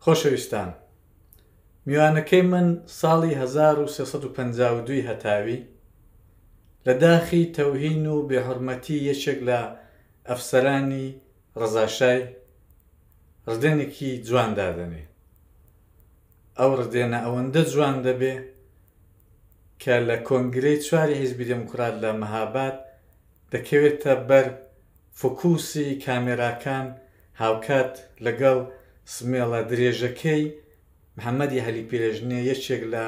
خۆشەویستان میوانەکەی من ساڵی 1352 هەتاوی لە داخی تەوهین و بێحرمەتی یەکێک لە ئەفسەرانی ڕزاشای ڕدێنێکی جوان دادەنێ ئەو ڕدێنە ئەوەندە جوان دەبێ کە لە کۆنگرەی چواری حیزبی دموکرات لە مەهاباد دەکەوێتە بەر فوکوسی کامێراکان هاوکات لەگەڵ سمێڵە درێژەکەی محەمەدی عەلی پیرەژنێ یەکێک لە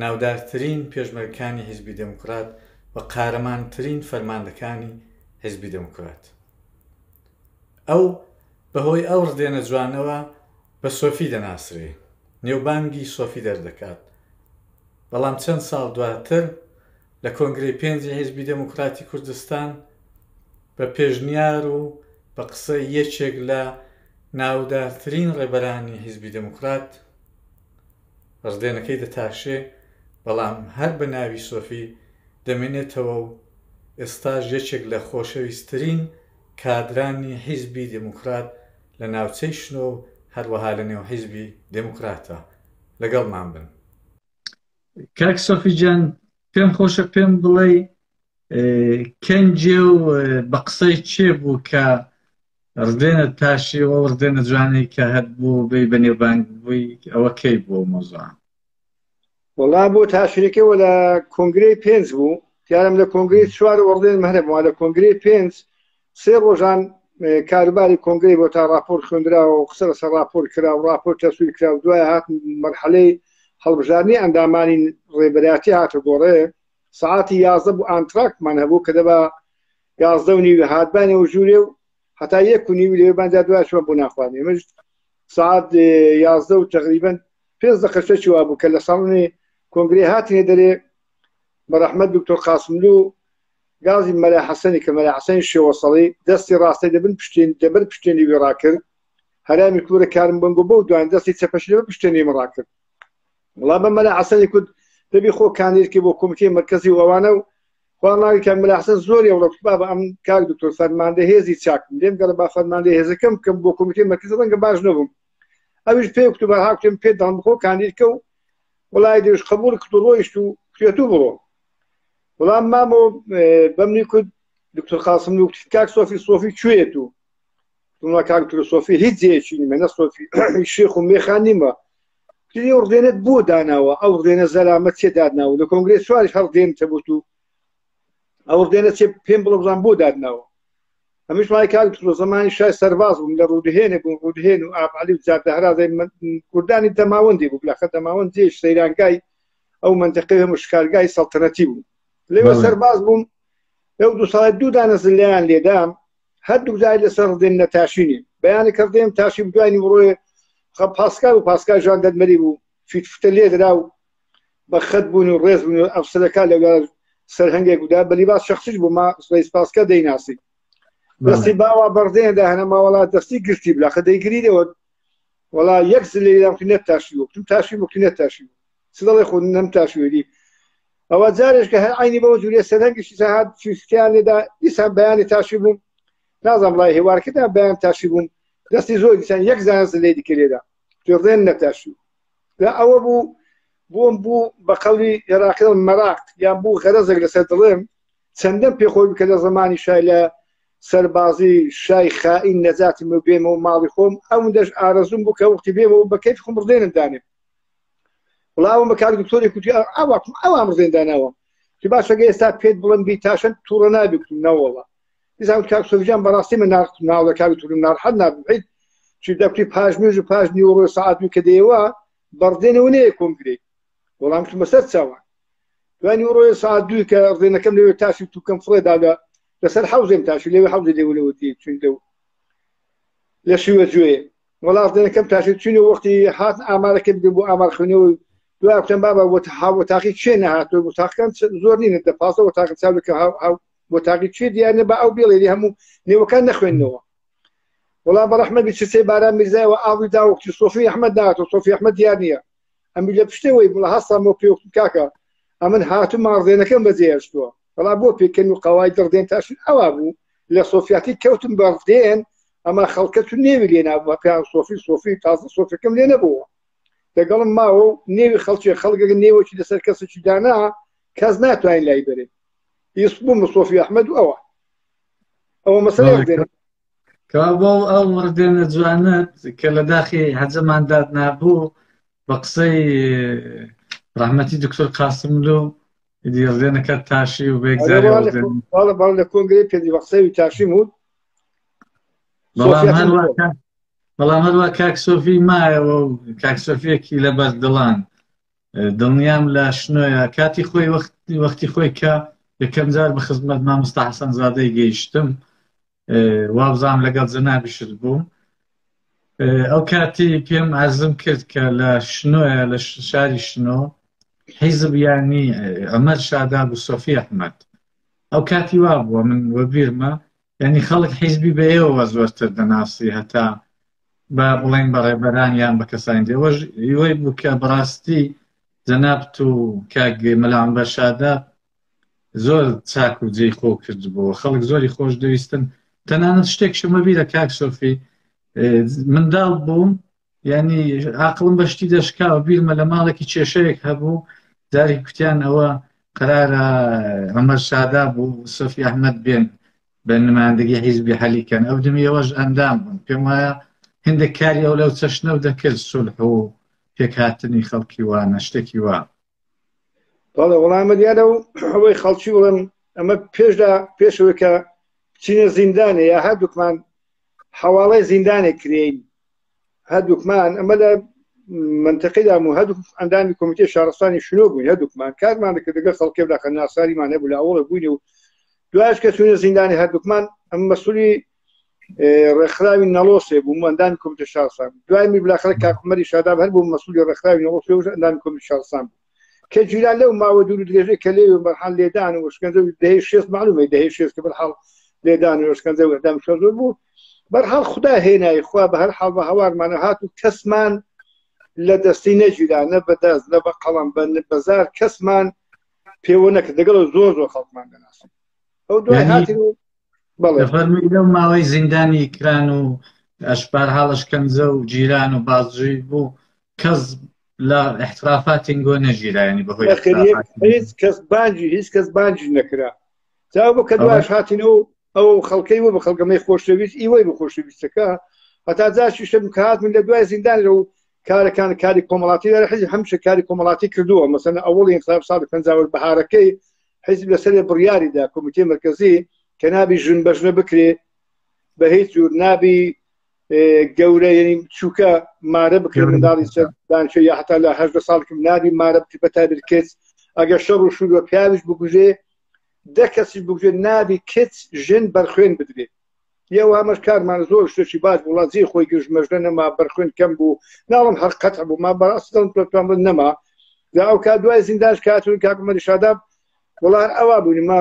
ناودارترین پێشمەرگەکانی حیزبی دێموکرات و قارەمانترین فەرماندەکانی حیزبی دێموکرات ئەو بەهۆی ئەو ڕدێنە جوانەوە بە سۆفی دەناسرێ نێوبانگی سۆفی دەردەکات بەڵام چەند ساڵ دواتر لە کۆنگرەی پێنجی حیزبی دێموکراتی کوردستان بە پێشنیار و بە قسەی یەکێک لە ناودارترین ڕێبەرانی حیزبی دێموکرات ڕدێنەکەی دەتاشێ بەڵام هەر بە ناوی سۆفی دەمێنێتەوە و ئێستاش یەکێک لە خۆشەویستترین کادرانی حیزبی دێموکرات لە ناوچەی شنۆ و هەروەها لەنێو حیزبی دێموکراتە. لەگەڵمان بن. کاک سۆفی جان پێم خۆشە پێم بڵێ کەنجێ و بە قسەی چێ بوو کە ڕدێنە تاشیەوە ڕدێنە جوانەی کە هەت بوو بی بە نێوبانگ بووی ئەوە کەی بۆ مۆزان وڵا بۆ تاشرەکەەوە لە کۆنگری پێنج بوو دیارم لە کۆنگری چوار وەڕدێن مەرەبووە لە کۆنگری پێنج سێ ڕۆژان کاروباری کۆنگری بۆ تا راپۆر خوێندراوە و قسە لەسەر راپۆر کرا و راپۆر تەسویر کرا و دوای هات مەرحەلەی هەڵبژارنی ئەندامانی ڕێبەراتی هاتە گۆڕێ سعاتی یازدە بوو ئانتراکمان هەبوو کە دەبا یازدە و نیوی هاتبانەوە ژوورێ و هەتا یەک و نیوی لێ بانجا دواشوە بۆ ناخوانێ مژ سعات یازدە و تقریبن پێنج دەقەشە چوا بوو کە لە ساڵنی کۆنگری هاتنێ دەرێ بەرەحمەت دکتۆر قاسملو گازی مەلا حەسەنی کە مەلا حەسەنی شێوەسەڵی دەستی ڕاستەی دەبن پشتێن دەبەر پشتێنی وێ ڕاکرد هەرامی کورە کارم بنگۆ بەو دوان دەستی چەپەشی لەبەر پشتێنی من ڕاکرد وڵا بە مەلا حەسەنی کورد دەبی خۆ کاندیدکە بۆ کۆمیتەی مرکزی و ئەوانە و خواناوی کاک مەلا حەسەن زۆر ئێوڵە کوبا بە ئەم کاک دکتۆر فەرماندە هێزی چاکم لێم گەڕ با فەرماندە هێزەکەم بکەم بۆ کۆمیتەی مرکز ڕەنگە باش نەبووم ئەویش پێ کوتوبە هاکتێم پێ دەڵم بخۆ کاندیدکە و وڵای دەویش قبول کتو ڕۆیشت و کوێت و بڕۆ وڵام مامۆ بەمنی کورد دکتۆر قاسم و کاک سۆفی سۆفی کوێت و تونە کاک تر سۆفی هیچ جێکی نیمە نە سۆفی شێخ و مێخان نیمە تری و ڕێنت بۆ داناوە ئەو ڕێنە زەرامە چێ دادناوە لە کۆنگرێت سواری هەر دێن تەبوت و ئەو ڕێنە چێ پێم بڵبزان بۆ دادناوە هەمیش مای کاک تر زمانی شای سەرباز بووم لە ڕوودهێنێک بووم ڕوودهێن و ئابعلی و جادەهرازای کوردانی تەماوەندی بوو لە خە تەماوەند جێش سەیرانگای ئەو منتەقەی هەموو شکارگای سەڵتەنەتی بوو لێوە سەرباز بووم لەو دو ساڵ دوو دانە زلیان لێدام هەردوو جای لەسەر ڕدێن نە تاشینی بەیانە کردێن تاشی دوانی وڕۆێ خە پاسکار و پاسکار ژان دەرمەری بوو فیت فتە لێ درا و بە خەت بوون و ڕێز بوون و ئەفسەرەکە لە سەرهنگێک ودا بەلی باس شخصیش بوو ما سڵی سپاسکە دەیناسی دەستی باوا بەڕدێندا هەنە ماوەڵات دەستی گشتی بلاخە دەیگریەوە وەڵا یەک زلەی لام نەت تاشی وەکتم تاشی وەکتی نەت تاشی بوو چ دەڵێ خۆ نەم تاشی وێری ئەوە جارێش کە هەر عینی بەوە جوورێ سەرەنگیشی سەهات چوستیان لێدا دیسان بەیانی تاشی بووم نازم ڕای هێوارکەدا بەیان تاشی بووم دەستی زۆر دیسان یەک زانست لێ دیکە لێدا پێڕێن نەتاشی لە ئەوە بوو بۆم بوو بە قەڵی عێراقی مەراقت یان بوو غەرەزێک لەسەر دڵێم چەندەم پێ خۆی بکە لە زمانی شای لە سەربازی شای خائین نەجاتی من بێمە و ماڵی خۆم ئەوندەش ئارەزوم بوو کە وقتی بێمە و بەکەیت خۆم ڕدێنم دانێ بڵاوم بە کاک دکتۆری کوتی ئاواکم ئەوام ڕزێندانەوە چی باشەگە ئێستا پێت بڵم بی تاشن تووڕە نابکتم نەوەڵە دیزان کاک سوفجان بەڕاستی من ناخت ناوە کاک تورم ناڕحەت نابیت چی دەکتی پاش مێژ و پاش نیوەڕۆ سعاتوی کە دێوە بەڕدێنەوە نەیە کۆنگرێت وەڵام کردمە سەر چاوان دوانی ڕۆێ ساعت دوی کە ڕێنەکەم لەوێ تاشی توکەم فڕێدا لە لەسەر حوزێم تاشی لەوێ حوزی لێ لەوە دی چون لەو لە شوێ جوێ وەڵاس دێنەکەم تاشی چونی وەختی هات ئامارەکەم بێ بۆ ئامار خوێنەوە دوای بکەم بابا وە هاوە تاقی چێ نەهاتۆ بۆ تاقەکان زۆر نینە دە پاسەوە تاقە چاوەکە بۆ تاقی چێ دیارە بە ئەو بێڵێری هەموو نێوەکان نەخوێندنەوە وڵا بە ڕحمە بچسێ باران میزایەوە ئاوی داوەختی سۆفی ئەحمد داات و سۆفی ئەحمد دیار نیە ئەمی لە پشتەوەی بڵە هەستا مۆ پێوەکت کاکە ئەمن هاتو ماڕدێنەکەم بەجێهێشتووە بەڵا بۆ پێکەن و قەوای دڕدێن تاشن ئەوا بوو لە سۆفیاتی کەوتم بەڕدێن ئەما خەڵکە تو نێوی لێنا بە پێیان سۆفی سۆفی تازە سۆفەکەم لێ نەبووە دەگەڵم ماوە و نێوی خەڵکی خەڵگەگە نێوەکی لەسەر کەسێکی دانا کەس ناتوانین لای بەرێت یس بووم سۆفی ئەحمد ئەوە ئەوە مەسەر کابڵ ئەو مردێنە جوانت کە لە داخی حەجەمان داد نابوو بە قسەی ڕحمەتی دکتۆر قاسملو دیڕێنەکە تاشی و بێگزاری باڵ لە کۆنگری پێدی بە قسەوی تاشی بود بەڵام هەروە کاک سۆفی مایەوە و کاک سۆفیەکی لەبەر دڵان دڵنیام لە شنۆیە کاتی خۆی وەختی وەختی خۆی کە یەکەم جار بە خزمەت مامۆستا حەسەن زادەی گەیشتم وابزانم لەگەڵ جەنابیشت بووم ئەو کاتی پێم ئازم کرد کە لە شنۆیە لە شاری شنۆ حیزب یانی ئەمەر شاداب و سۆفی ئەحمەد ئەو کاتی وا بووە من وەبیرمە یعنی خەڵک حیزبی بەیەوە زۆرتر دەناسی هەتا بە بڵێن بە ڕێبەران یان بە کەسانی دێوەش ئیوەی بوو کە بڕاستی جەنابت و کاک مەلام بەشادە زۆر چاک و جێی خۆ کردبوو خەڵک زۆری خۆش دەویستن تەنانەت شتێک شمە بیرە کاک سۆفی منداڵ بووم یعنی ئاقلم بە شتی دەشکا و بیرمە لە ماڵێکی کێشەیەک هەبوو جاری کوتیان ئەوە قرارە ئەمەر شادا بوو سۆفی ئەحمد بێن بە نمایندگی حیزبی حەلیکەن ئەو دمیەوەش ئەندام بوون پێم وایە هندێک کاری ئەو لەو چەشنە و دەکرد سولح و پێکهاتنی خەڵکی وانە شتێکی وا بەڵێ وەڵامە دیارە و ئەوەی خەڵکی وڵم ئەمە پێشدا پێشەوەی کە چینە زیندانێ یا هەردووکمان حواڵی زیندانێک کرێین هەردووکمان ئەمە لە منتەقیدام و هەردوو ئەندامی کۆمیتێ شارستانی شنۆ بووین هەردووکمان کارمان دەکرد دەگەڵ خەڵکێ داخە ناساریمان هەبوو لە ئەوڵە بووین و دوایش کە چوونە زیندانی هەردووکمان ئەم مەسولی ڕێکخراوی نەڵۆسێ بوو مەندان کۆمیتە شارسان دوای میبلاخەر کاکومەری شاداب هەر بوو مەسولی ڕێکخراوی نەڵۆسێ ئەندان کۆمیت شارسان بوو کە جویلان لەو ماوە دوور و درێژەی کە لێوێ بەرحال لێدان و شکەنجە و دەهەی شێست معلومەی دەهەی شێست کە بەرحاڵ لێدان و شکەنجە و ئیعدام شۆ زۆر بوو بەرحاڵ خدا هێنای خوا بە هەر حاڵ بە هەوارمانە هات و کەسمان لە دەستی نە جویلان نە بەدەست نە بە قەڵەم بە بەزار کەسمان پێوە نەکە دەگەڵ زۆر زۆر خەڵکمان دەناسن ئەو دوای یعنی- هاتن و بەڵێ فەرمی لەو ماوەی زیندانی کران و ئەشبار حاڵش کەنجە و جیران و بازجوی بوو کەس لە احترافاتین گۆ نەژیرایانی بەهۆی هیچ کەس باجی هیچ کەس باجی نەکرا تا بۆ کە دواش هاتینەوە ئەو خەڵکەی بۆ بە خەڵگەمەی خۆشەویست ئیوەی بە خۆشەویستەکە هەتا جاشیشم کات من لە دوای زیندان لەو کارەکان کاری کۆمەڵاتی لە حزب هەمش کاری کۆمەڵاتی کردووە مەسەن ئەوڵ انقلاب سال پنجاوە بەهارەکەی حزب لەسەر بڕیاریدا کۆمیتی مرکزی کە نابی ژن بەژنە بکرێ بە هیچ جور نابی گەورە یعنی چووکە مارە بکرێت منداڵی سەردانچە یا هەتا لە هەشدە ساڵکم نابی مارە بکرێت بە تابر کچ ئەگەر شەڕ و شوور بە پیاویش بگوژێ دە کەسی بگوێ نابی کچ ژن بەرخوێن بدرێت یەوە ئەمەش کارمان زۆر شتێکی باش وڵات زی خۆی گەشت مەژدە نەما بەرخوێن کەم بوو ناڵم هەر قەت بوو ما بەڕاست دڵم پێتوان بن نەما لە ئەو کا دوای زینداش کاتون کاکمەری شاداب وڵار ئەوە بوونی ما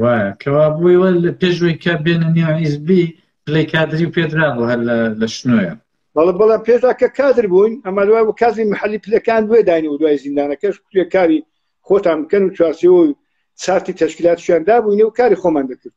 وایە کەوابووی وە لە پێشوەی کە بێنە نێو حیزبی پلەی کادری و پێدرا بۆ هەر لە شنۆیە بەڵە بەڵە پێشدا کە کادر بووین ئەمە دوای و کازی محلی پلەکان دوێ داین و دوای زیندانەکەش کوێ کاری خۆتان بکەن و چوارچەوە و سارتی تەشکیلاتشیان دابووینە و کاری خۆمان دەکرد